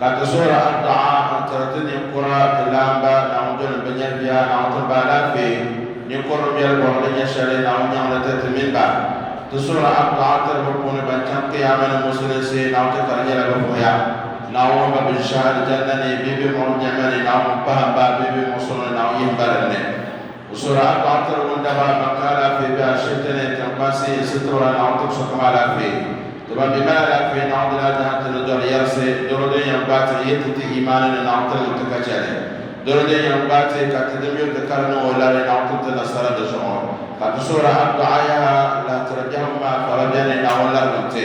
Ka ti suhiri adduɣa n-tiri ti ninkura, ti laamba, Naawuni doli n-bi nyari bia, Naawuni ti ba alaafee, ninkur bi biɛli bɔbu ni nyɛ shɛli, Naawuni nyaŋ li tiri ti mini ba. Ti suhiri adduɣa n-tiri bi puuni ban chaŋ Kiyaama ni Musulinsi, Naawuni ti kari nyɛla bɛ vuhiya. Naawuni ŋun ba bɛ ʒi shɛhi Alijanna ni bee bɛ muɣim nɛma ni, Naawuni ŋun pahim ba bee bɛ muɣisiri ni, Naawuni yihim ba din ni. O so daa dɔɣitiri ŋun daa baai baŋ ka alaafee be ashibiti ni n-chaŋ kpaŋsi n sitiri o la naawuni ti bi so kam alaafee. Ti ban mi mali alaafee naawuni daa dahi ti ni dɔri yɛrisi doro din yɛn gbaai ti ni yi ti ti imaani ni naawuni ti niŋ ti ka chɛli doro din yɛn gbaai ti ka ti din yuri ti ka di niŋ o lari naawuni ti ti nasara di zuɣu. Ka ti so daa dɔɣi yaha lahitiri biɛhigu maa ka ba beni naawuni larigim ti.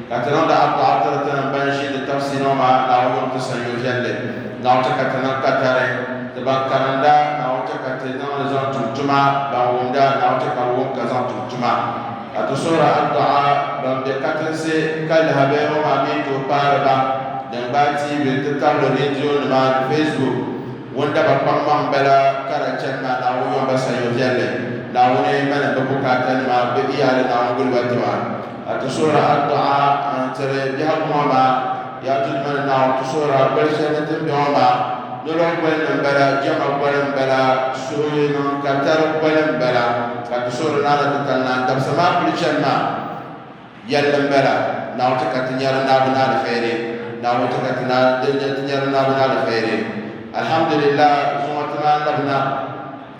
Ka ti niŋ di aduɣa tiri ti ni ban ʒi di tabisi ni o ma Naawuni ŋun ti sanyo viɛlli. Naawuni chɛ ka ti niŋ katari ti ban karinda, Naawuni chɛ ka ti niŋ li zaŋ tum tuma ban wumda, Naawuni chɛ ka bɛ wum ka zaŋ tum tuma. Ka ti suhiri aduɣa ban be katinsi ka lahi be o ma mi tooi kpaari ba, din gbaai tiivi n-ti tabili reedionima ni facebook. Ŋun da ba kpaŋmaŋ bala ka da chani maa Naawuni yɔn ba sanyo viɛlli, Naawuni malim bɛ bukaatanima, bɛ iyaali Naawuni guli ba tima. A ti suhiri adduɣa n-tiri biɛhigu ŋɔ maa, yaa Duuma ni Naawuni, ti suhiri a boli shɛli ni ti ni be ŋɔ maa. Nolɔgu boli ni m-bala, jɛma boli m-bala, suhili niŋ ka tari boli m-bala, ka ti suhiri Naana Titali Naa dabisa maa pili chani maa yɛlli m-bala, Naawuni ti ka ti nyari Naawuni ni aliheri, Naawuni ti ka ti nyari Naawuni ni aliheri. Alhamdulillah, zuŋɔ ti maa labi na.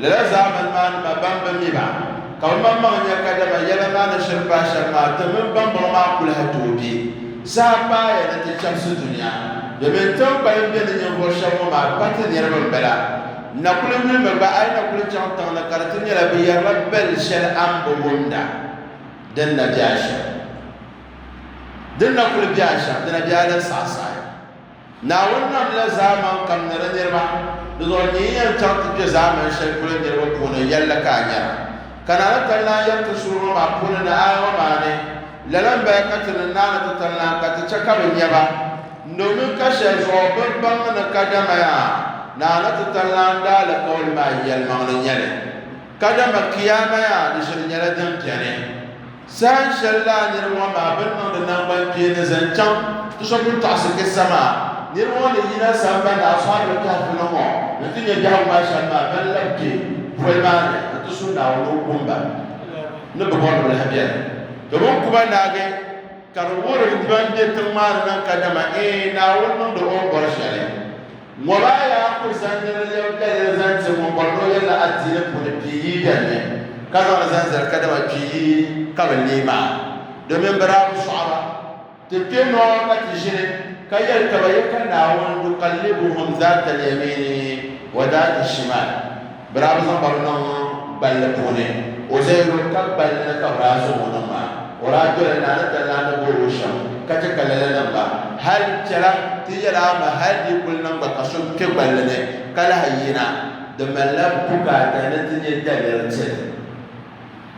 Lala zaamani maa nima ban bi mi ba, ka bɛ maŋmaŋ nya kadama yɛla maa ni shiri paai shɛm maa, ti mini bambɔŋɔ maa kuliha tooi be. Saha paaya ni ti chɛbisi dunia, domin tiŋkpalim bɛ ni ninvuɣ shɛb ŋɔ maa pa ti niriba m-bala. N na kuli yuli mi ba, a yi na kuli chaŋ tiŋ ni ka di ti nyɛla bɛ yɛrila bɛl shɛli a ni bi wumda din na be a shɛm, din na kuli be a shɛm, di na be a ni saɣisaɣi. Naawuni namla zaaman kam ni di niriba, di zuɣu n-nyɛ yi yɛn chaŋ ti kpe zaaman shɛli polo niriba puuni, yɛlli ka a nyara? Ka Naa ni tal lan yɛri ti suhuri ŋɔ maa puuni ni aya ŋɔ maa ni, Lala m-baya ka ti ni naani ti tal lan ka ti chɛ ka bɛ nya ba, domin ka shɛli zuɣu bɛ ni baŋ ni kadama yaa Naa ni ti tal lan daa alikauli maa yɛlimaŋli nyɛli, kadama Kiyaama yaa di ʒiri nyɛla din beni. Sahan shɛli lala niriba ŋɔ maa bɛ ni niŋdi naŋgbankpeeni zaŋ chaŋ ti so pun tɔɣisi kissa maa, niriba ŋɔ ni yina sambani Ashabul Kahfi ni ŋɔ n-ti nya biɛhigu maa shɛm maa, bɛ ni labi kpe poli maa ni n-ti su Naawuni ni o kum ba ni bɛ bɔri bilahi biɛni. Domin ku ba naagi ka di wuhiri ban be tiŋ maa ni niŋ kadama, eei Naawuni niŋdi o ni bɔri shɛli. Ŋɔ maa yaa kul zaŋ niriba lɛbi biɛlli zaŋ ti ŋun bɔri ni o yɛlila adiini puuni kpi yi biɛlli, ka zaŋ li zaŋ zali kadama kpi yi ka bɛ leei maa, domin bɛ daa bi sɔɣi ba. Ti kpe nɔ ka ti ʒini ka yɛli ka ba, Yeka Naawuni, Nukallibuhum zaata lyamiini wa daata shimaal. Bɛ daa bi zaŋ ba niŋ gballi puuni. O lee lo ka gballi ni ka bɛ daa zaŋ o niŋ maa. O daa doli naa ni dali naa ni boli o shɛm ka chɛ ka lala niŋ ba. Hal chɛla ti yɛli a mi hal di kul niŋ gba ka so kpe gballi ni ka lahi yina, di malila bukaata ni ti nyɛ daliri ti.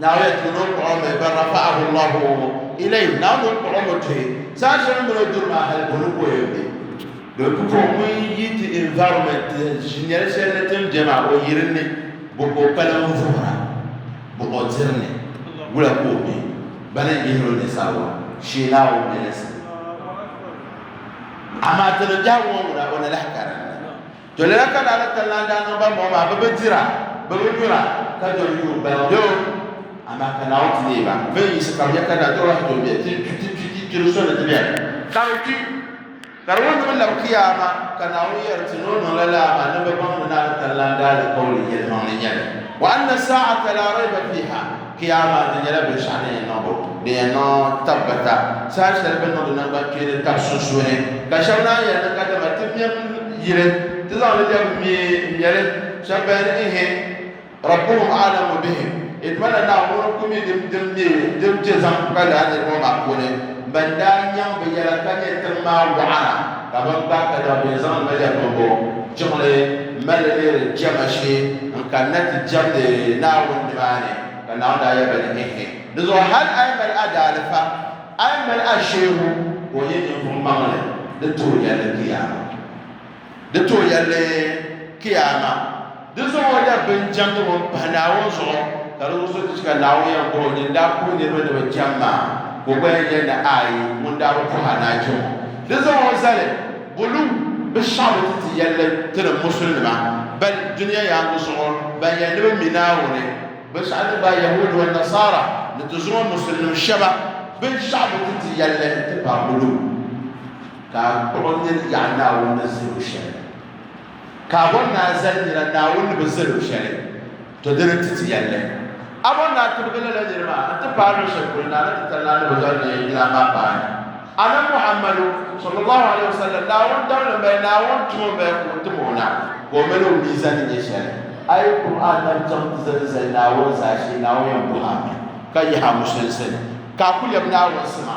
Naawuni yɛn tuhi ni o kpuɣi o mi, bal rafa'ahu Allahu ilayhi, Naawuni o kpuɣi o mi tuhi, saha shɛli o mini o duri maa hali boli ka o yɛn be. Doli pupuɣ ŋun yi ti environment ti ʒinyari shɛli ni tin be maa, o yiri ni, bo ka o kpalim vuhira, bo o diri ni, wula ka o be, bana n-yihir o ninsaliwa shee la o mɛlisi. Amaa ti ni biɛhigu ŋɔ ŋuna, o ni lahi karinda. To lala ka Naawuni kanlana daa niŋ ban bɔŋɔ maa, bɛ bi dira, bɛ bi nyura, ka doli yuun baligu bɛ o. Amaa ka Naawuni ti neei ba bɛ ni yiɣisi ka bɛ nya ka nadɔɣu lahi doli bɛ ti kpi kpiri soli ni ti beni. Ka bɛ kpi, ka di wuhi ni bɛ lab Kiyaama, ka Naawuni yɛri ti ni o niŋ lala amaa ni bɛ baŋ ni Naawuni kanlana daa alikauli yɛlimaŋli nyɛli, wa anna saa'ata laa rayba fiiha. Kiyaama di nyɛla binshɛɣu din yɛn niŋbu din yɛn niŋ tabbata saha shɛli bɛ niŋdi nangbankpeeni tabi sunsuuni ka shɛba naan yɛli ni kadama ti mɛm yili ti zaŋ li lɛbi mi m-mɛli shɛba bɛn ni ihi Rabbuhum a'lamu bihim yi tuma na Naawuni ŋun ku mi din din mi din chɛ zaŋ pa lala niriba maa puuni ban daa nyaŋ bɛ yɛla ka nyɛ tiŋ maa wɔɣara Ka bɛn gbaai ka daŋ bɛ zaŋ Naja Bɔmbo jiŋli mali leeri jɛma shee n-kanna ti jɛmdi Naawuni nimaani, ka Naawuni daa yɛli ba ni, Ɛhɛ! Dizuɣu hal a yi mali a daalifa, a yi mali a sheebu ka o nyɛ ninvuɣ maŋli, di ti o yɛlli kiyaama. Di ti o yɛlli kiyaama. Di zuɣu o daa bi jɛm ti ŋun pahi Naawuni zuɣu, ka di wurisi ti chika Naawuni yɛn bɔr o nyin daa puhi niriba ni bɛ jɛm maa, ka o gba yɛn yɛli ni Aai, ŋun daa bi puhi a ni a jɛm o. Di zuɣu o zali, Bulu, bɛ shɛɣu bi ti ti yɛlli ti ni musulinima, bali dunia yaaŋa zuɣu ban yɛli ni bɛ mi Naawuni, binshɛɣu din gbaai Yahuudi wan Nasaara ni ti zuŋɔ musulinim shɛba, bɛ shɛɣu bi ti ti yɛlli ti pahi bulu, ka a kpuɣi nini yaɣi Naawuni ni zali o shɛli. ka a bɔri ni a zali nira Naawuni ni bi zali o shɛli, to dini nti ti yɛl li. A bɔri ni a tibigi lala niri maa nti paai luɣ shɛli polo Naana Titali Naa ni bɛ doli ni Yila maa paani. A Nabi Muhammadu, sallallaahu alayhi wa sallam, Naawuni dabili m-bala, Naawuni tuma m-bala ka o tim o na ka o mali o mii zani nya shɛli. A yi kum a nam chaŋ ti zani zali Naawuni zaashee, Naawuni yɛn bɔh a mi ka yihi a musulinsi ni ka a ku lɛbi Naawuni sima.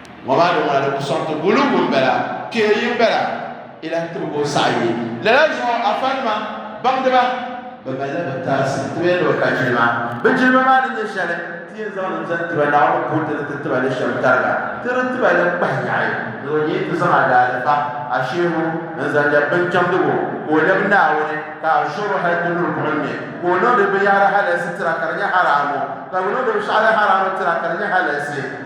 ŋɔ maa di ŋɔna di ku sɔŋ ti gulugu m-bala kpee yi m-bala ilan tibigi o saɣi yi lala zuɣu afanima baŋdiba bɛ malila bɛ taasi ti bee ni bɛ ka jilima bɛ jilima maa ni nyɛ shɛli ti yɛn zaŋ li zaŋ tiba Naawuni punti ni ti tiba li shɛm tariga ti di tiba li kpahi yaɣi ni o nyɛ ti zaŋ a daalifa a sheehu n-zaŋ lɛbi binchɛmdigu ka o lɛbi Naawuni ka a zuɣu hali ti luri buɣim ni ka o niŋdi binyɛhiri halalsi tira ka di nyɛ haraamu ka bɛ niŋdi binshɛɣu din haraamu tira ka di nyɛ halalsi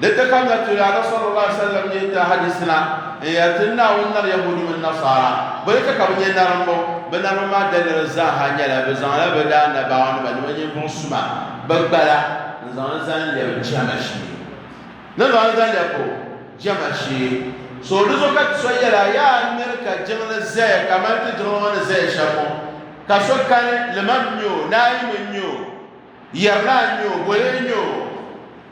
Di ti ka nya Tuyaana sallallahu alaihi wasallam ni yɛn ti a hadiisi na n-yɛli ti ni Naawuni nari Yahuudi mini Nasaara bɛ ni ka ka bɛ nyɛ narimbu. Bɛ naribu maa daliri zaaha nyɛla bɛ zaŋla bɛ daa Annabaawonima ni bɛ ninvuɣ suma bɛ gbala n-zaŋ li zaŋ lɛbi jɛma shee. Ni zaŋ li zaŋ lɛbu jɛma shee. So di zuɣu ka ti so yɛla, Yaa n miri ka jiŋli zaya kaman ti jiŋli ŋɔ ni zaya shɛm ŋɔ, ka so kani, Liman n-nyɛ o, Naayim n-nyɛ o. Yɛrina a nya o, boli n-nya o,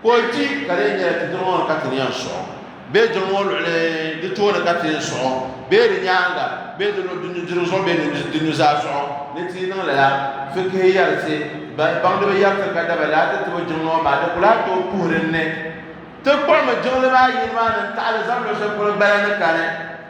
ka o di, ka di yɛn nyɛla ti jiŋ o ni ka ti ni yɛn suɣ o, bee jiŋ o luɣili di tooni ka ti yɛn suɣ o, bee di nyaaŋa, bee di nudirigu zuɣu bee di nuzaa zuɣu, ni ti yi niŋ lala, fikihi yɛrisi, baŋdiba yɛrisi ka daba laa ti tibi jiŋ o maa, di ku lahi tooi puhiri n ni ti kpuɣimi jiŋli maa yini maa ni n taɣili zabili shɛli polo bala ni kani.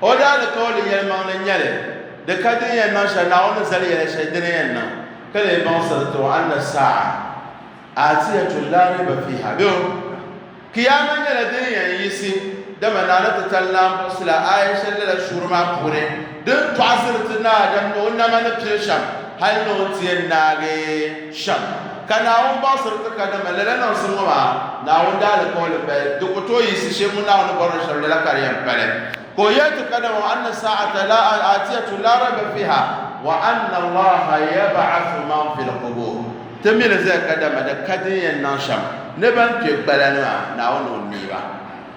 O daa ni ka o ni yɛlimaŋli nyɛ li, di ka din yɛn niŋ shɛli, Naawuni ni zali yɛla shɛli di ni yɛn niŋ, ka lee baŋsiri ti o, Anna as-saa'a aatiyatun laa rayba fiiha, bɛ o, Kiyaama nyɛla din yɛn yiɣisi, dama Naa ni ti tali Naa buɣisi la aaya shɛli lala suuri maa puuni din tɔɣisiri ti ni Adam ni o nama ni pili shɛm hali ni o ni ti yɛn naagi. shɛm, ka Naawuni baɣisiri ti ka dama lala niŋsim ŋɔ maa Naawuni daalikauli paya, di ku tooi yiɣisi shee ŋun Naawuni ni bɔrila shɛm lala ka di yɛn pali. Ka o yɛli ti ka dama wa anna saa'ata la aatiyatu la rayba fiiha wa anna Allaha yab'athu man fil qubuur. Ti mi li zaya ka dama di ka din yɛn niŋ shɛm ni bɛn kpe gbala ni maa Naawuni ni o neei ba.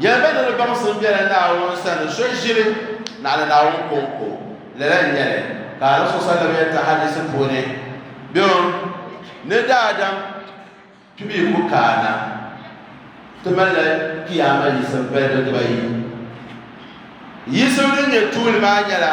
Yɛli ba ni di baŋsim biɛla Naawuni sani, so ʒili naɣila Naawuni kɔŋko. Lala n-nyɛ li ka Annabi so sallam yɛn ti hadiisi puuni, Bɛŋɔ ni daadam kpibu yi ku kaana, ti malila Kiyaama yiɣisim balibu dibayi. Yiɣisim din nyɛ tuuli maa nyɛla.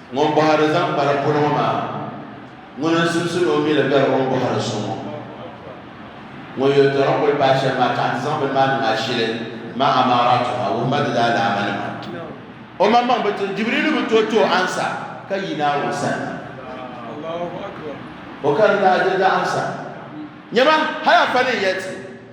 Ŋun bɔhiri zaŋ kpa di polo ŋɔ maa, ŋuni n-sunsuni o mi li beri o ni bɔhiri so ŋɔ? Ŋun yɛltɔra kul paai shɛm maa ka a ti zaŋ bini maa niŋ a shili maa amaaraatuha, wuhima di daalaammanima. Omaŋmaŋ bi ti, Jibriilu bi tooi ti o ansa ka yi Naawuni sani. O karindaa diri di ansa. Nyama, hal a pa ni n yɛl ti.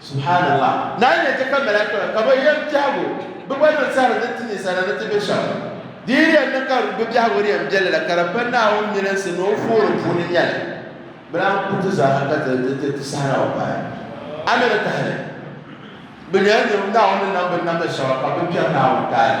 Subhaanallah! Naa nya ti ka mɛlɛkakpɛma ka bɛ yɛn biɛhig o, bɛ gba niŋ sihiri din ti ninsala ni ti be shɛm. Di yi yɛn niŋ ka bɛ biɛhigu di yɛn biɛli la, ka di pa Naawuni milinsi ni o fooli puuni nya li. Bɛ daa ku ti zaaha ka ti ti sihira o paai. A mi ni tahili? Bɛ nyɛla niriba Naawuni ni nam binnamda shɛba, ka bɛ kpɛri Naawuni taali.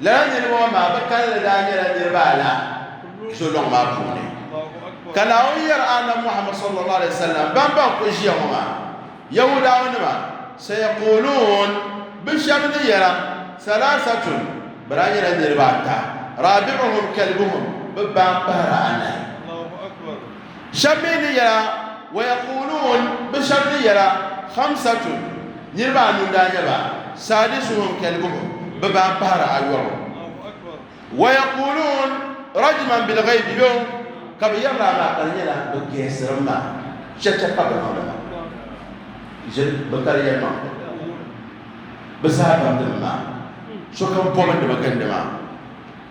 Lala niriba ŋɔ maa bɛ kalinli daa nyɛla niriba ala zolɔŋ maa puuni. Ka Naawuni yɛri Annabi Muhammad sallallahu alayhi wa sallam ban ban kuli ʒiya ŋɔ maa, Yahudawanima, Sayaquuluun, bɛ shɛba ni yɛra, Salaasatun, bɛ daa nyɛla niriba ata, Raabi'uhum kalbuhum, bɛ baa m-pahiri anahi. Shɛb mi ni yɛla, Wayakuuluun, bɛ shɛb ni yɛla, Xamsatun, niriba anu n-daa nyɛ ba, Saadisuhum, kɛlibuhum, bɛ daa pahiri ayɔbu. Wayakuuluun, Rajiman bilghaybi, yo ka bɛ yɛri laa maa ka di nyɛla bɛ gɛɛsirim ma, chɛcha ka bɛ niŋdi ma. Ʒiri bɛ kali yɛlimaŋli, bɛ zaa bamdimi maa, sokam bɔbindi ma gindi ma.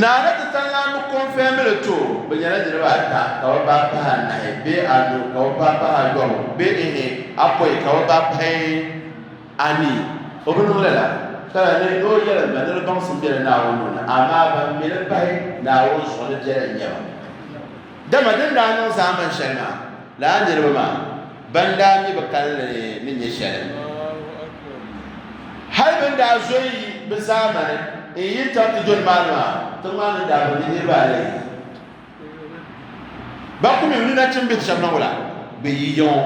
Naa ni ti tanlan bi kɔnfɛmi li to bi nyɛla niriba ata ka bi paai pahi anahi bee anu ka bi paai pahi ayɔbu bee ihi apɔi ka bi paai pahi anii. O bi niŋ lala ka lahi leei ni o yɛlim ba ni di baŋsim bela Naawuni nuu ni, amaa ban mi li pahi Naawuni zuɣu ni biɛla n-nyɛ ba. Dama din daa niŋ zaamani shɛli maa lala niriba maa. Ban daa mi bi kalinli ni nyɛ shɛli, hali bɛn daa zo yi bɛ zaamani n yi tam ti doli maani maa, tiŋ maa ni daa bi mi niriba alayi. Ba ku mi ni nachimbihi shɛb na wula bɛ yi ya ŋɔ,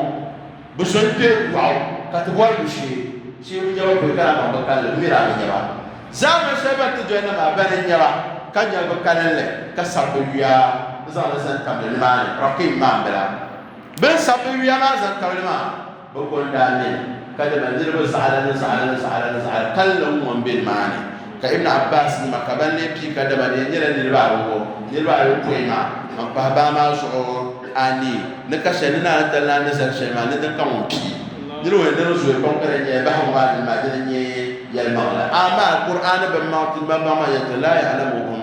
bɛ so n kpe dɔɣu ka ti bɔri bɛ shee, shee bi nya ba polo ka daa baŋ bɛ kalinli, bɛ mi daa bi nya ba. Zaamani shɛli bɛn ti doli na maa, bana n-nya ba, ka nya bɛ kalinli, ka sab bɛ yuya n-zaŋ li zani tamli nimaani, Raqim maambila. Bɛ ni sabi bɛ yuya maa zaŋ tabili maa, bɛ ko n-daa ne ka dama niriba zaɣila ni zaɣila ni zaɣila ni zaɣila kalinli n-ŋɔ m-be nimaani. Ka Ibn Abbaas nima ka ban lee pii ka dama di yɛn nyɛla niriba awɔbɔ, niriba ayopɔin maa, ban pahi baa maa zuɣu anii ni ka shɛli ni ni a ni dali ni a ni zali shɛli maa ni din ka ŋun pii niriba ni dini zooi pam ka di nyɛla bahi ŋɔ maa dini maa dini n-nyɛ yɛlimaŋli. Amaa Kur'aani bimmaŋ ti malimaŋmaŋ yɛn ti laa ya'lamuhum.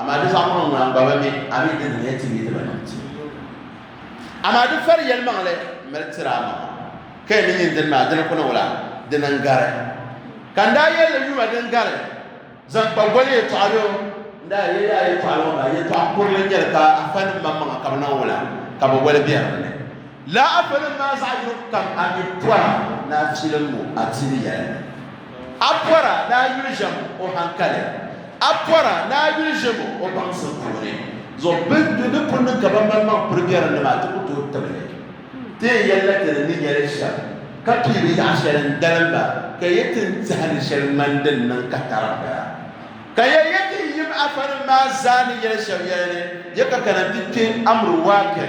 Amaa di zaŋ niŋ ŋuna n-ba ba mi, a mi di ni nyɛ ti mi di ba niŋ ti. Amaa di fari yɛlimaŋli m-mali tiri a maŋa, ka yi ni nyin dini maa, dina kuni wula? Dina n-gari. Ka n daa yɛli li, Yuma din gari, zaŋ kpa goli yɛtɔɣa yo. N daa yɛli ya a yɛtɔɣa ŋɔ maa, yɛtɔɣ kurili n-nyɛ li, ka afanim maa maŋa ka bɛ niŋ wula? Ka bɛ woli bɛ din ni. Lala afanim maa zaɣ yini kukam a mi pɔra ni a filim ŋɔ, a tibi yɛli. A pɔra ni a yuli ʒem o hankali, a pɔra ni a yuli ʒem o baŋsim puuni. Zuɣu bɛ ni ni ku niŋ ka ba malimaŋ piri biɛrim ni maa, ti ku tooi tib li. Ti yɛn yɛli la ti ni ni yɛli shɛm, ka pii bi yaɣ shɛli n-dalim ba, ka ya ti ni tehi ni shɛli ŋmani din niŋ ka tarim ba. Ka ya ya ti yim afanim maa zaa ni yɛli shɛb yɛli ni, ya ka kana nti kpe Amru Waaqi.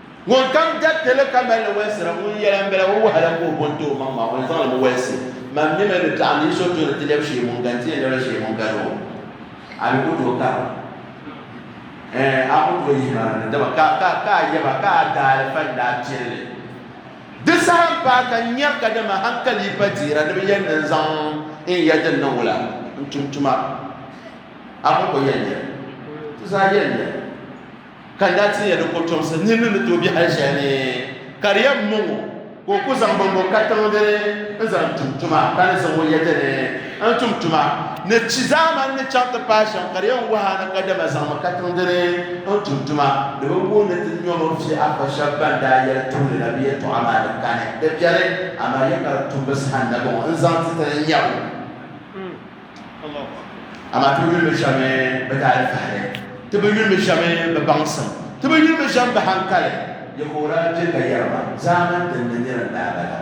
Ŋun kam jɛbti li ka mali li wɛlisira, ŋun yɛla m-bala ŋun wahala ka o bo n-ti o maŋ maa, o ni zaŋ li mi wɛlisi man mi mi ni taɣi ni yi so tooni ti lɛbi shee ŋun gani ti yɛn lɛbila shee ŋun gani o. A bi ku tooi kara, ɛɛn, a ku tooi yihi ma ni, dama ka, ka, ka a yɛba ka a daalifa n-daa piri li. Di saha m-paai ka n nyari ka dama haŋkali yi pa dihira ni bɛ yɛn ni n-zaŋ n ya din niŋ wula n-tum tuma. A ku ku yɛn nyari, ti zaa yɛn nyari. Ka n daa tinya di kɔtomsi, nirina ni tooi be hal shɛli ni, ka di yɛn mɔŋ o ka o ku zaŋ bɔmbɔ katiŋ dini n-zaŋ tum tuma, ka ni zaŋ o yɛda ni n-tum tuma ni chi zaamani ni chaŋ ti paai shɛm, ka di yɛn wahi a ni kadama zaŋmi katiŋ dini n-tum tuma. Di bi wuhi ni ti nyɔm o fi a kpa shɛb bɛn daa yɛli tuuli la bɛ yɛtɔɣa maa ni kani di biɛni, amaa yɛ ka di tumbu saha nabiŋ n-zaŋ ti ti ni nya o. amaa ti yuli mi shɛmi bɛ daali fahiri ti bi yuli mi shɛmi bɛ baŋsim ti bi yuli mi shɛmi bɛ hankali Yɛhuwa daa je ka yɛri ba, Zaaman din ni nira n-daa bala.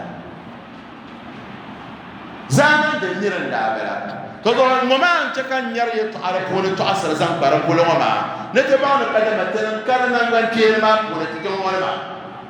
Zaaman din nira n-daa bala. Ka gɔba ŋɔ maa n-chɛ ka n nyari yɛtɔɣa di puuni tɔɣisiri zaŋ kpa di guli ŋɔ maa ni ti baŋ ni kadama ti ni kari naŋgbankpeeni maa puuni ti kpe ŋɔ ni maa.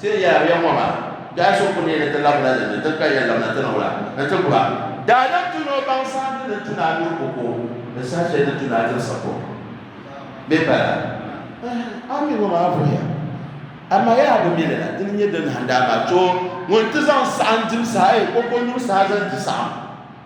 Ti ni yɛli a biɛŋ ŋɔ maa, Dɔɣi so kul neei ni ti labina din ni ti ni ka yɛn labina ti ni wula ni ti gu a. Daadam tu ni o baŋ saha ti ni tu ni a duri buku ni saha shɛli ni tu ni a diri sakuŋ bee pala. A mi ŋɔ maa vuhiya, amaa yaa bi mi li la, di ni nyɛ dindahindaamaa tooi ŋun ti zaŋ saɣim dibu saha, ee, kɔŋkɔnyuri saha zaŋ di saɣim.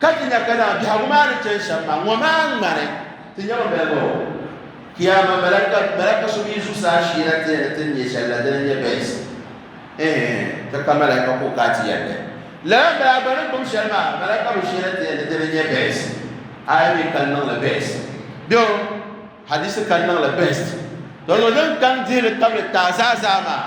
Ka ti nya ka naa biɛhigu maa ni chani shɛm maa, ŋɔ maa ŋmani ti nyama bɛligu o. Kiyaama malaka malaka so mi zuɣusaa sheena ti ya ni ti ni nya shɛli la, dina n-nyɛ bɛhisi. Ɛɛn, ka ka malaka ka o ka ti yɛlli. Lala m-bala bɛ ni gbum shɛli maa, malaka bi sheena ti ya ni dina n-nyɛ bɛhisi. Aya mi ka niŋ li bɛhisi. Bɛ o, hadiisi ka niŋ li bɛhisi. Tɔ, yɔlim kam dihili tabili taazaa zaa maa.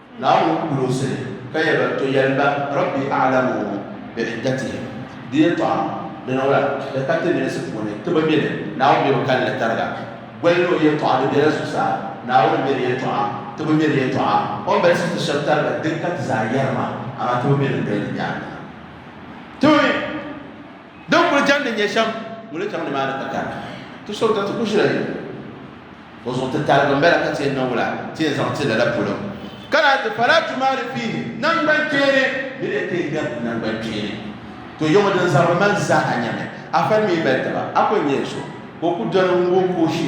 Naawuni ku gulisi li ka yɛli ba, To yɛlim ba, Rabbi a'lamu bi'iddatihim, di yɛtɔɣa di niŋla bɛ ka ti milisi puuni ti bi mi li, Naawuni mi bi kali li tariga. Boli ni o yɛtɔɣa di bela zuɣusaa, Naawuni n-mi di yɛtɔɣa, ti bi mi di yɛtɔɣa, O ni balisi ti shɛb tariga din ka ti zaa yɛrima, amaa ti bi mi din doli di nyaaŋa. din kuli jandi nyɛ shɛm ŋun li chaŋ nimaani ka kari ti so ka ti ku ʒila yuli o zuɣu ti tarigi n bala ka ti yɛn na wula ti yɛn zaŋ ti lala polo ka lahi ti fala tuma di fiihi nangban kpeeni ni di kpee ŋmɛri ti nangban kpeeni to yɛŋɔ din zabiri mali zaa a nyɛmi a fali mi mali taba a ku nyɛ so ka o ku doli ŋun ka o shi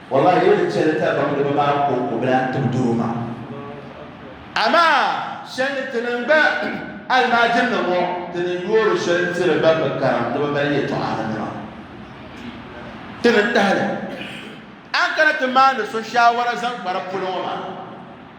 Wallahi yau ni chɛli tabaŋdiba maa kɔŋkɔbila n-tib doro maa. Amaa shɛli ti niŋ gba almaajirinim ŋɔ ti ni yoori shɛli tiri ban bi karim ni bɛ mali yɛtɔɣarinima. Ti ni tahili a ni kana ti maani so shaawara zaŋ kpari polo ŋɔ maa.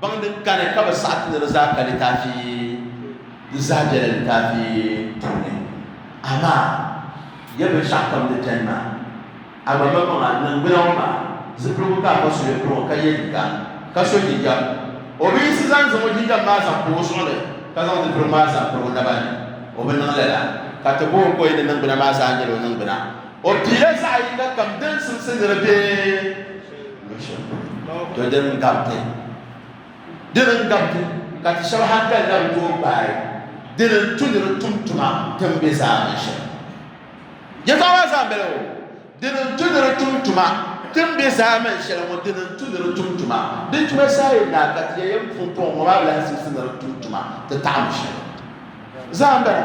Baŋ din kani ka bɛ saɣi ti ni di zaa ka litaafi di zaa bela litaafi puuni. Amaa ya binshɛɣukam di beni maa, a gba ma maŋa niŋgbuna ŋɔ maa zipiligu ka a pa so ya pili ŋɔ ka ye liiga ka so jinjam. O bi yiɣisi zaŋ zaŋ o jinjam maa zaŋ pa o zuɣu ni ka zaŋ zipiligu maa zaŋ piri o naba ni. O bi niŋ lala ka ti bo o ka o yi ni niŋgbuna maa zaa nyɛla o niŋgbuna. O piila zaɣ yiŋgakam din simsi ni di be. to di n gabiti di n gabiti ka ti shɛba hankali na bi tooi gbaai di n tu ni di tum tuma tin bɛ zaa ni shɛli yɛtɔɣa maa zaa bɛla o di n tu ni di tum tuma tin bɛ zaa man shɛli ŋɔ di n tu ni di tum tuma di tuma saa yi na ka ti yɛ yɛm pumpɔŋ ŋɔ maa lahi sisi ni di tum tuma ti taɣam shɛli zaa bɛla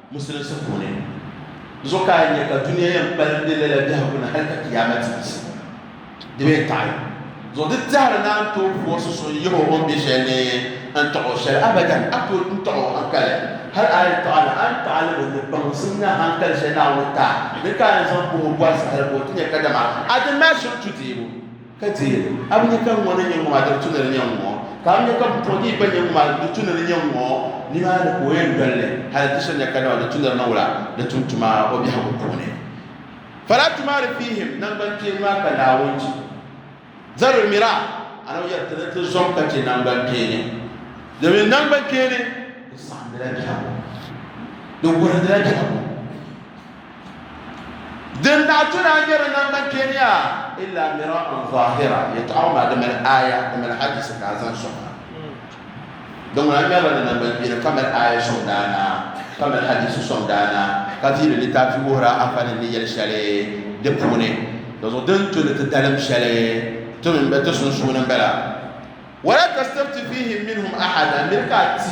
Musulinsi puuni zuɣu ka a nya ka dunia yɛn kpalim be lala biɛhigu ni hal ka Kiyaama ti yiɣisi. Di be taɣi zuɣu di tɛhiri ni a ni tooi puɣisi so n-yihi o o ni be shɛli ni n-tɔɣi o shɛli. Abadan! A tooi n-tɔɣi o haŋkali. Hal a yi tɔɣi li, a ni tɔɣi li mi ni baŋsim ni haŋkali shɛli Naawuni taai ni ka a ni zaŋ kpahi o bɔri saha la ka o ti nya kadama a di naai shiri tudeebu. Ka ti yeli, A bi nya ka ŋ ŋɔni n-nyɛ ŋun maa diri tu ni di nyɛ ŋ-ŋɔ? Ka a bi nya ka m pɔhigi yi gba n-nyɛ ŋun maa diri tu ni di nyɛ ŋ-ŋɔ? Nimaani ka o yɛn doli li hali ti so nya kadama di tu ni di niŋ la di tum tuma o biɛhigu puuni. Fala tumari fihim nangbankpeeni maa ka Naawuni ti zabiri mira anaw yɛri ti ni ti zom ka che nangbankpeeni, domin nangbankpeeni di saɣindila biɛhigu, di wuhirindila biɛhigu. Din daa ti daa nyɛ di namban kpe ni yaa illa mira'an zahira, yɛtɔɣa maa di mali aaya, di mali hadisi ka a zaŋ sɔŋ a. Di ŋuna ŋmɛrila di namban kpeeni ka mali aaya sɔŋ daanaa, ka mali hadisi sɔŋ daanaa, ka viiri litaafi wuhir a afa ni ni yɛli shɛli di puuni. Dinzuɣu di ni tu ni ti dalim shɛli ti mini bɛ ti sunsuuni m-bala. Wala tastafti fihim minhum ahada, miri ka a ti.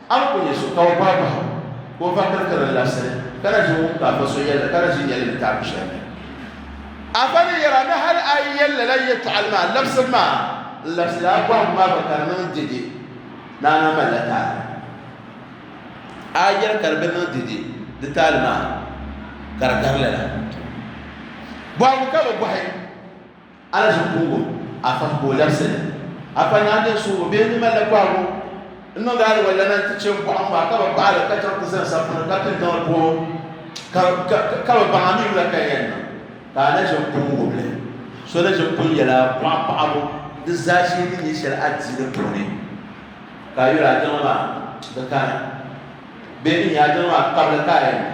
A ni ku nya so ka o paai bahi ka o va kirikiri n labisili, ka na ʒi ŋun ka a fa so yɛlli ka na ʒi nyɛlli taabu shɛli ni. A pa ni yɛri a ni hal a yi yɛn lala yɛtɔɣili maa labisili maa, n labisila a bɔhigu maa gba ka di niŋ dɛde ni a na malila taali. A yɛri ka di bi niŋ dɛde di taali maa, ka di gari lala bɔhigu ka bi bɔhi. A ni zuŋ kuugu a fahi ka o labisi li. A pa ni a nya suhibu bee ni mali la kɔhigu n-niŋdi a aliwalana nti che m-bɔɣim maa ka bi paɣi li ka chaŋ ti zani sampuni ka pini tiŋli puhibu ka ka ka bi baŋ a mi wula ka n yɛn niŋ? Ka a ni ʒe m-pun wubi li. So ni ʒe m-pun yɛl a bɔɣu paɣibu di zaashee ni nya shɛli a di di puuni ka a yuli a jiŋli maa di kani bee n-nya a jiŋli maa kabili ka a yɛn niŋ?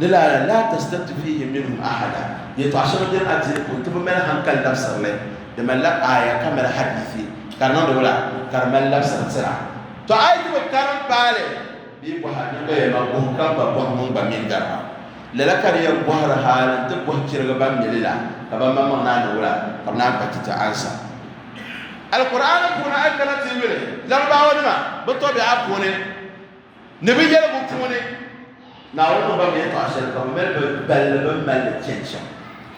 Lilala, laa tastafti fiihim minhum ahada, yɛtɔɣ shɛŋa beni a dini puuni ti bi mali hankali labisiri li, di malila aaya ka mali hadiithi, ka di niŋdi wula? Ka di mali labisiri tira. Tɔ! A yi ti bi karim paali bee bɔhi a niriba yɛlima, bɔhi ka ba bɔhi ŋun gba mi gari ba. Lala ka di yɛn bɔhiri hal n-ti bɔhi chirigi ban mi li la, ka banmaŋmaŋ naan niŋ wula? Ka bɛ naan kpa ti ti ansa. Alkur'aani puuni a yi kana ti yuli Larabawanima bɛ tɔbiɛɣa puuni. Ni bɛ yɛli bɛ puuni, Naawuni mi gba mi yɛtɔɣa shɛli ka bɛ mali bɛ balli bɛ ni mali li chani shɛm,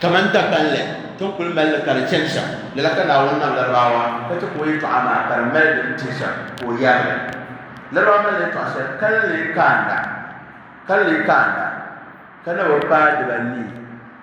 kaman dagbanli ti ni kul mali li ka di chani shɛm. Lala ka Naawuni nam Laribaawa ka chɛ ka o yɛtɔɣa maa ka di mali din ti shɛm ka o yɛri li. Laribaawa mali yɛtɔɣa shɛli ka ni lee kaanda, ka ni lee kaanda, ka na bi paai dibanii.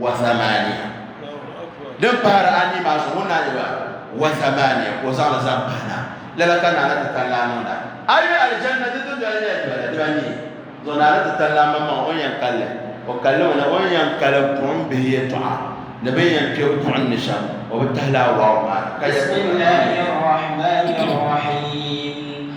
wa zamaniya din pahiri anii maa zuɣu na yɛba wa zamaniya ka o zaŋli zaŋ pahi na lala ka naana ti tan laa niŋda a yi aljanna di dundoli nyɛla dibata diba ni zuɣu naana ti tan laa maŋmaŋ o yɛn kalli o kalli ŋuna o yɛn kali buɣim bihi yɛtɔɣa ni bin yɛn kpe buɣim ni shɛm o bi tahi laa wawu maa ka yɛ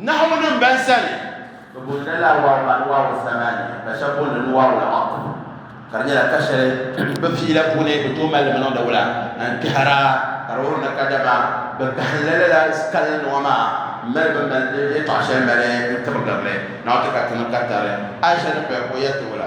Nahuwunim bɛn sani. Bɛ boonila lala wahu maa ni wahu zamani, ka shɛba booni li ni wahu al-atfu, ka di nyɛla ka shɛli bɛ pii la puuni bɛ tooi mali li mi niŋdi wula, n kpɛhira, ka di wuhiri ni kadama bɛ gahinla lala kali nima maa m-mali bɛ mali yɛtɔɣ shɛli mali n-tibigiri li. Naawuni ti ka tinim ka tari Aicha ni paya ka o yɛli ti wula?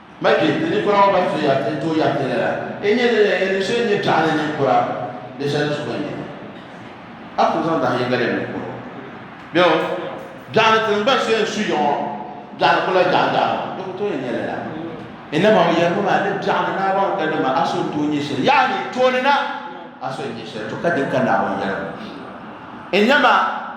Ma kpe, ti ninkura ŋɔ ban so yari ti ni tooi yari ti lala, N nyɛ nini la? N yɛn niŋ so n nyɛ biɛɣu ni ninkura? Di shɛli ni so gba n-nyɛ ma. A ku zaŋ dahin yiŋga lɛbi ninkura ŋɔ. Bɛo, biɛɣu ni ti ni gba so yɛn su ya ŋɔ, biɛɣu ni kula biɛɣu biɛɣu maa, di ku tooi yɛn nyɛla lala. N naba ŋɔ yɛrimi ma ni biɛɣu ni Naawuni ŋɔ ka di ma a so n-tooi nyɛ shɛli, yaani tooni na a so n-nyɛ shɛli, to ka din ka Naawuni yɛligu n-nyɛ ma.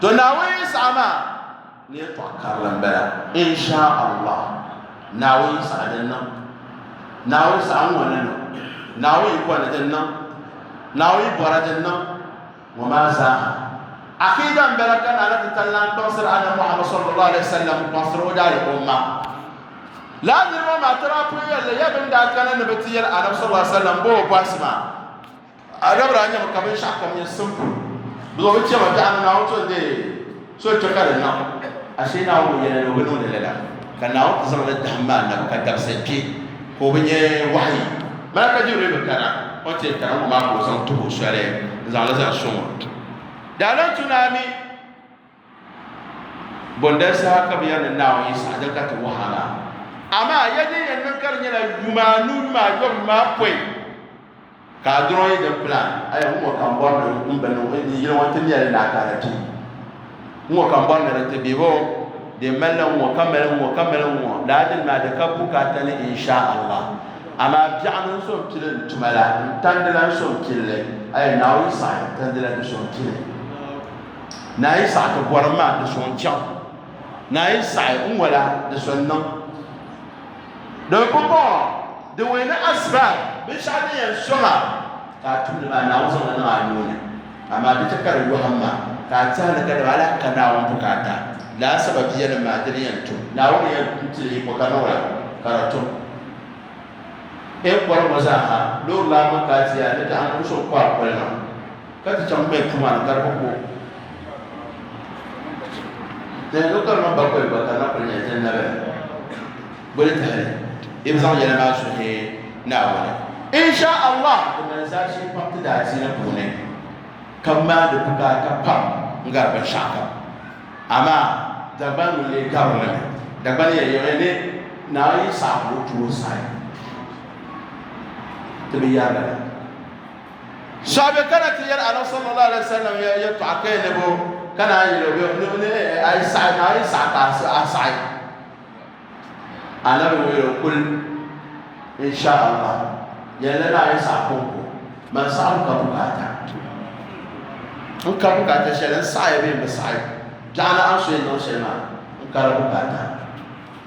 to naawuni yinsaɣa maa ni yɛn tɔɣa karili n bala insha allah naawuni yinsaɣa din niŋ naawuni saɣa ŋɔ ni niŋ naawuni yikɔni din niŋ naawuni yibɔra din niŋ ŋɔ maa zaaha akida n bala ka naana ti tali lan kpaŋsiri anna muhammad sallallahu alaihi wasallam kpaŋsiri o daali umma laa niriba maa tɔra pun yɛlli ya bin daa kana ni bi ti yɛli annabi sallallahu alaihi wasallam boo bɔhisi maa A dabiri a nyɛmi ka binshɛɣu kam nyɛ simple because o chɛma biɛɣu ni Naawuni to n-deei so kpe ka di niŋ ashee Naawuni yɛli ni o bi niŋdi lala ka Naawuni ti zaŋ li dahim maa nabu ka dabisili kpe ka o bi nyɛ wahayi Malaka Jibril bi kana until kana ŋɔ maa ka o zaŋ tuhi o soli n-zaŋ li zaŋ so ŋɔ. Daalantuna mi. Bondali saha ka bɛ yɛli ni Naawuni yi saɣi di ka ti wahi a la. Amaa ya din yɛn niŋ ka di nyɛla yuma anu yuma ayɔbu maa pɔi ka a dɔɔn yi din plan. Aya ŋɔ ka n bɔri ni n bini ŋɔ yili ŋɔ ti mɛli ni a ka di ti. Ŋɔ ka n bɔri ni di ti bɛ bɔ bɛ mali la ŋɔ ka mali ŋɔ ka mali ŋɔ laa dini maa di ka bukaata ni insha Allah. Amaa biɛɣu ni n so n pili n tuma la n tandi la n so n pili li. Aya Naawuni yi saɣi tandi la di so n pili. Naa yi saɣi ti bɔrim maa di so n-chaŋ. Naa yi saɣi n wala di so n-niŋ. Doli pumpɔŋɔ din wee ni asbaab, binshɛɣu din yɛn sɔŋ a ka a tumdi maa Naawuni zaŋ li niŋ a nuu ni, amaa di chɛ ka di yɔhim ma ka a teei a ni kadama hal a ka Naawuni bukaata. Lala sababi yɛlim maa di ni yɛn tum. Naawuni yɛn ti li yiko ka niŋ la ka di tum. N bɔri ŋɔ zaa ha loori la a maŋ ka a teei a ni daɣim ni n so n-kɔhi a kɔlina. Ka ti chaŋ bɛ tuma ni ka di bi ku. Ti ni lo karima bakoli gba ka na kuli nyɛ din na bɛ boli tahali i bi zaŋ yɛli maa suhi Naawuni. Insha Allah di mali zaashee pam ti daadiini puuni ka maandi bukaata pam n-gari binshɛɣu kam. Amaa Dagban ŋun lee garili mi. Dagban yɛn yiɣi ni Naa Yisa ka o tu o saha ti bi yɛri li. Sahabɛ kana ti yɛli Annabi sallallahu alaihi wasallam ya yɛltɔɣa ka ya ni bɛ kana a yɛli o bɛ ni ni a yi saɣi ka a yi saɣi ka a saɣi Annabi ŋɔ yɛli kul insha Allah yɛlli ni a yi saɣi ko ko man saɣim ka bukaata n ka bukaata shɛli n saɣi bɛ n bi saɣi biɛɣu ni a so yi niŋ shɛli maa n kari bukaata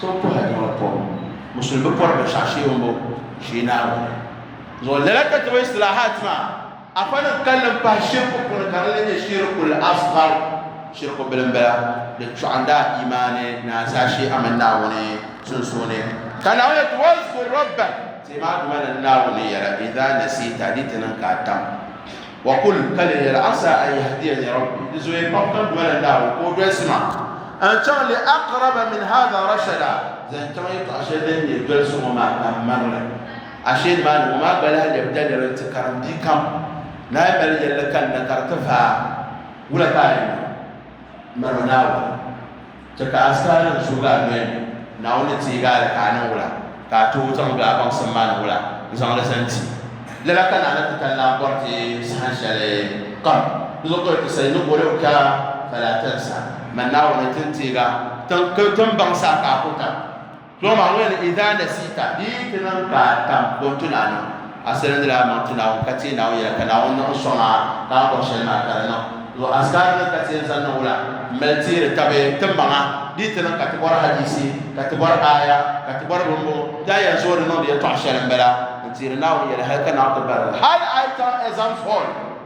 So bi pɔhi Adama bi pɔbu musulmi bi pɔri binshɛɣu shee o bo shee Naawuni zuɣu lala ka tuma istilahat maa afa ni kalli n pahi shirku puuni ka di nyɛ shirkul asghar shirku bilim bala di chuɣanda imaani naansa shee amin Naawuni sunsuuni ka Naawuni ti wazkur rabba ti maa duma ni Naawuni yɛla idha nasita di ti niŋ ka tam Wa kul, ka lee yɛli, Asaa an yahdiyani Rabbi, di zoya pam ka n doli n Naawuni ka o dolsi ma ka n chaŋ li aqraba min haadha rashada, zaŋ chaŋ yɛltɔɣa shɛli din nyɛ dolsi ŋɔ maa ka n mari li. Ashee nimaani ŋɔ maa gba lahi lɛbi daliri nti karim bia kam ni a yi mali yɛlli kalinda ka di ti vaai, wula ka a yɛn niŋ? Miri ma Naawuni. Chɛ ka a saa ni n suhigi a noli ni Naawuni ni teegi a li ka a niŋ wula, ka a tooi zaŋ be a baŋsim maa ni wula n-zaŋ li zani ti. Lala ka Naana Titali-Naa bɔri ti saha shɛli kam. Di zuɣu ka o yɛli ti, Sayinu boli o kpɛɣu, fala a tali sa, Mani Naawuni, ti ni teeg a, ti ni baŋsi a ka a ku tam. Dɔɣi ma wɛl idaa nasiita di yi ti niŋ ka a tam bɔ n-ti Naawuni, a salindila a maŋ ti Naawuni ka teei Naawuni yɛla ka Naawuni niŋ sɔŋ a ka a bɔri shɛli maa ka di niŋ. Zuɣu Azkaari ni ka teei zaŋ niŋbu la m-mali teeri tabi ti maŋa di yi ti niŋ ka ti bɔri hadiisi ka ti bɔri aaya ka ti bɔri bimbo ti a yɛn zooi di niŋdi yɛltɔɣa shɛli m-bala n-teeri Naawuni yɛla hal ka Naawuni ti barili hal a yi chaŋ exam hall.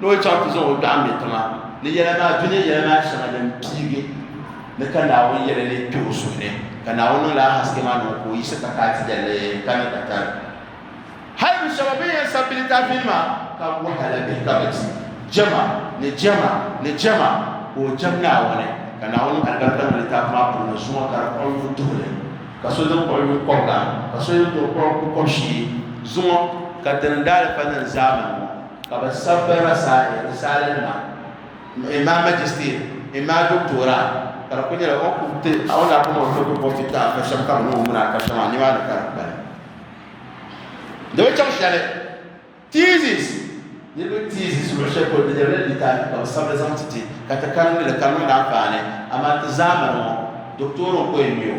Ni o chaŋ ti zaŋ o dɔɣu me tiŋa ni yɛla maa du nyɛ yɛla maa shɛŋa din piigi ni ka Naawuni yɛli leei kpe o suhu ni, ka Naawuni niŋla a haske maa niŋ o ka o yiɣisi ka kaai ti yɛlli ka ni ka tari hal du shɛba bɛn yɛn sabbi litaafinima ka wahala bɛ ka bɛ ti jɛma ni jɛma ni jɛma ka o jɛm Naawuni, ka Naawuni niŋ alibarika niŋ litaafi maa polo ni zuŋɔ ka di kpuɣi yuŋ tuhi li, ka so din kpuɣi yuŋ kɔbiga, ka so din too kpuɣi kukɔb'shee zuŋɔ. Ka dini n-daa li pa niŋ zaamani ŋɔ. Ka bɛ sabi ba rasaale, risaalinima, m-mi ma majistir, mi ma doktora, ka di kul nyɛla o kum ti a o ni a kum o ni tooi bɔbi ti ti a ka shɛm ka bɛ ni o wum ni a ka shɛm a nimaani ka di kpali. Di bi chaŋ shɛli, thesis, niriba thesis luɣ shɛli polo di nyɛla litaafi ka bɛ sabi li zaŋ ti ti ka ti karimdi li ka niŋdi anfaani, amaa ti zaamani ŋɔ doktora n-ko yɛn mi o.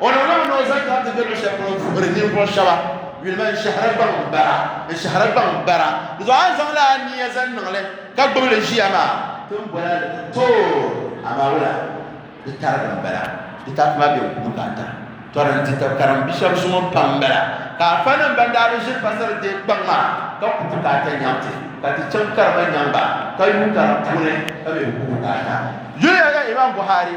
O niŋ lala ni o zaŋ kana ti be luɣ'shɛli polo n-vuhiri ninvuɣ shɛba yulima n-shɛhira gbaŋ bara, n-shɛhira gbaŋ bara. Di zuɣu a ni zaŋ lala nia zaŋ niŋ li ka gbubi li ʒiya maa, ti ni boli a ni ti tooi, amaa wula di tarigi m-bala. Di tarigi maa be n-kubu ka a tira tɔri n-ti tab karim bi shɛba zuŋɔ pam m-bala, ka afanim ban daa bi ʒiri pasari deei gbaŋ maa ka kubu ka a ta nyaŋ ti, ka ti chaŋ karima nyaŋ ba ka yuui karim puuni ka mi bi kubu ka a ta. Yuliya ka Imam Buhari.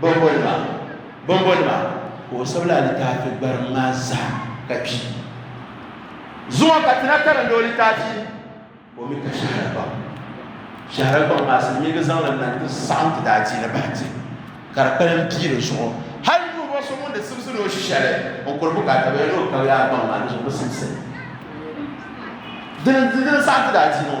bɔmbɔnima bɔmbɔnima ka o sabila alitaafi gbariŋ maa zaa ka kpi zuŋɔ ka ti na karindi o litaafi o mi ka shahara gbaŋ shahara gbaŋ maa silimiingi zaŋli na ti saɣim ti daa diini bahi ti ka di kpalim pii di zuɣu hali ninvuɣ so ŋun di simsi ni o shi shɛli n kuri bukaata bɛ ni o ka yaa gbaŋ maa ni zuɣu bi simsi dini dini saɣim ti daa diini ŋɔ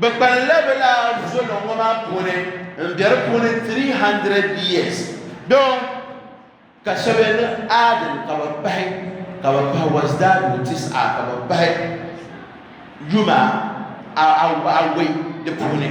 Bɛ kpaŋla bɛ laa zoliŋ ŋɔ maa puuni m-be di puuni 300 years doo ka shɛba yɛn niŋ Aadin ka bɛ pahi ka bɛ pahi Wasdaadu Tis'a ka bɛ pahi yuma awɔi di puuni.